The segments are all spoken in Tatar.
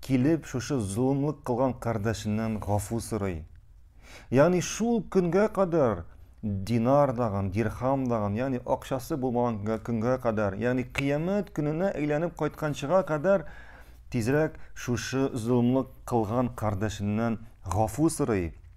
килеп шушы золымлык кылган кардәшеннән гафу сорый. Ягъни шул көнгә кадәр динар даган, дирхам даган, ягъни акчасы булмаган көнгә кадәр, ягъни кыямәт көненә әйләнеп кайтканчыга кадәр тизрәк шушы золымлык кылган кардәшеннән гафу сорый.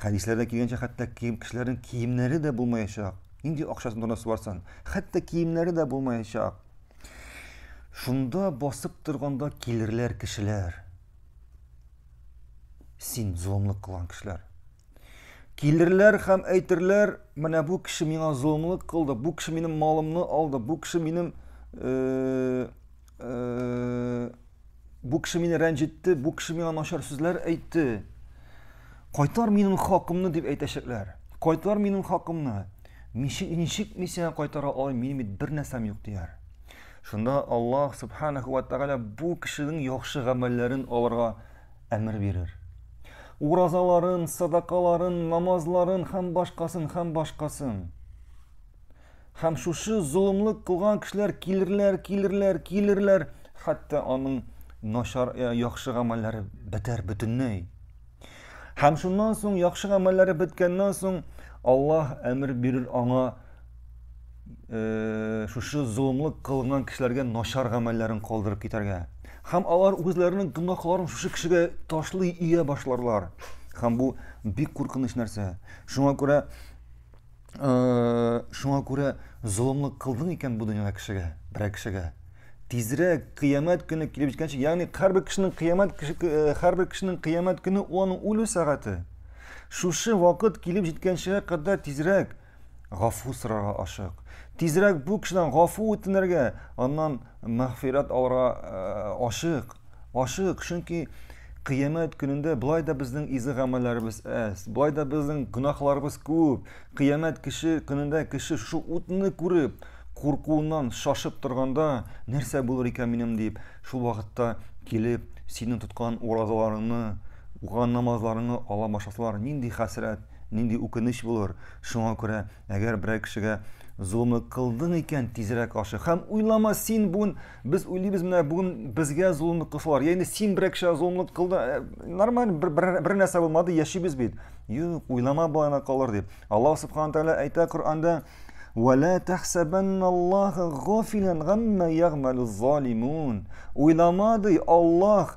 Хәдисләрдә килгәнчә, хәтта кием кешеләрнең киемнәре дә булмаячак. Нинди акчасын донасы барсан, хәтта киемнәре дә булмаячак. Шунда басып торганда килерләр кешеләр. Син золымлык кылган кешеләр. Килерләр һәм әйтерләр, менә бу кеше миңа золымлык кылды, бу кеше минем малымны алды, бу кеше минем э, бу кеше мине рәнҗетте, бу кеше миңа начар сүзләр әйтте. Кайтар минем хакымны дип әйтәчәкләр. Кайтар минем хакымны. Ничек ничек мин сиңа кайтара алам, минем бит бер нәрсәм юк дияр. Шунда Аллаһ субханаһу ва тагала бу кешенең яхшы гамәлләрен алырга әмер бирер. Уразаларын, садакаларын, намазларын һәм башкасын һәм башкасын. Һәм шушы золымлык кылган кешеләр килерләр, килерләр, килерләр, хәтта аның начар э, яхшы гамәлләре бетәр бөтенләй. Һәм шуннан соң яхшы гамәлләре беткәннән соң Аллаһ әмер бирер аңа э, шушы золымлык кылган кешеләргә начар гамәлләрен калдырып китәргә. Һәм алар үзләренең гөнаһларын шушы кешегә ташлый ия башларлар. Һәм бу бик куркыныч нәрсә. Шуңа күрә Шуңа күрә золымлык кылдың икән бу дөньяда кешегә, берәр кешегә. Тизрәк кыямәт көне килеп җиткәнче, ягъни һәрбер кешенең кыямәт һәрбер кешенең кыямәт көне ул аның үлү сәгате. Шушы вакыт килеп җиткәнчегә кадәр тизрәк гафу сорарга ашык. Тизрәк бу кешедән гафу үтенергә, аннан Мәгъфирәт алырга ашык, ашык, чөнки Кыямәт көнендә болай да безнең изге гамәлләребез әз, болай да безнең гөнаһларыбыз күп. Кыямәт кеше көнендә кеше шушы утны күреп, куркуыннан шашып торганда, нәрсә булыр икән минем дип, шул вакытта килеп, синең тоткан уразаларыңны, укыган намазларыңны ала башласалар, нинди хәсрәт, нинди үкенеч булыр. Шуңа күрә Әгәр берәр кешегә золымлык кылдың икән, тизрәк ашык һәм уйлама, син бүген без уйлыйбыз, менә бүген безгә золымлык кылсалар, яисә син берәр кешегә золымлык кылдың, э, нормаль бер, бер, бер нәрсә булмады, яшибез бит. Юк, уйлама балана калыр дип. Аллаһ субхана тәгалә әйтә Коръәндә: "Вәлә тәхсәбәнналлаһа гафилан гамма ягмалу залимун". Уйламады Аллаһ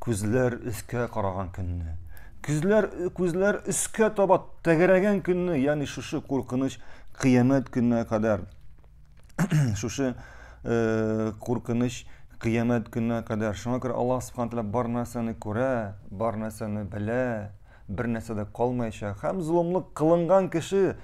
Күзләр өскә караган көнне, күзләр күзләр өскә таба тәгәрәгән көнне, ягъни шушы куркыныч кыямәт көненә кадәр шушы э, куркыныч кыямәт көненә кадәр. Шуңа күрә Аллаһ субхана тәгалә бар нәрсәне күрә, бар нәрсәне белә. бер нәрсә дә калмаячак һәм золымлык кылынган кеше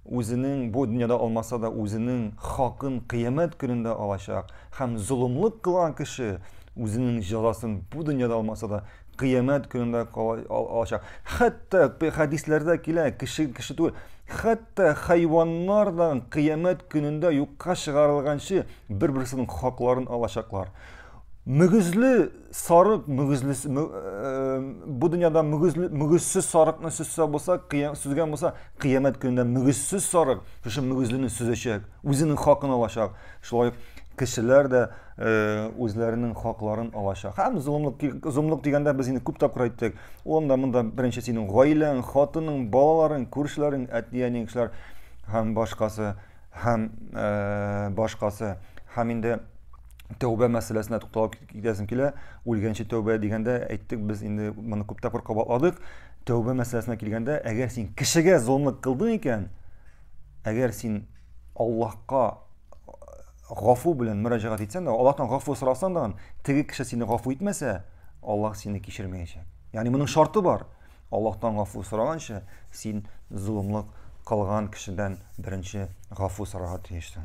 үзенең бу дөньяда алмаса да үзенең хакын кыямәт көнендә алачак һәм золымлык кылган кеше үзенең җәзасын бу дөньяда алмаса да кыямәт көнендә алачак хәтта хәдисләрдә килә кеше кеше түгел хәтта хайваннар да кыямәт көнендә юкка чыгарылганчы бер берсенең хакларын алачаклар мөгезле сарык мөгезле бу дөньяда мөгезле мөгезсез сарыкны сөзсә булса сүзгән булса кыямәт көнендә мөгезсез сарык шушы мөгезлене сөзәчәк үзенең хакын алачак шулай кешеләр дә үзләренең хакларын алачак һәм золымлык золымлык дигәндә без инде күп тапкыр әйттек ул да монда беренче синең гаиләң хатының балаларың күршеләрең әти әниң кешеләр һәм башкасы һәм башкасы һәм инде тәүбә мәсьәләсенә тукталып китәсем килә. Үлгәнче тәүбә дигәндә әйттек, без инде моны күп тапкыр кабатладык. Тәүбә мәсьәләсенә килгәндә, әгәр син кешегә золымлык кылдың икән, әгәр син Аллаһка гафу белән мөрәҗәгать итсәң дә, Аллаһтан гафу сорасаң да, теге кеше сине гафу итмәсә, Аллаһ сине кичермәячәк. Ягъни моның шарты бар. Аллаһтан гафу сораганчы, син золымлык кылган кешедән беренче гафу сорарга тиешсең.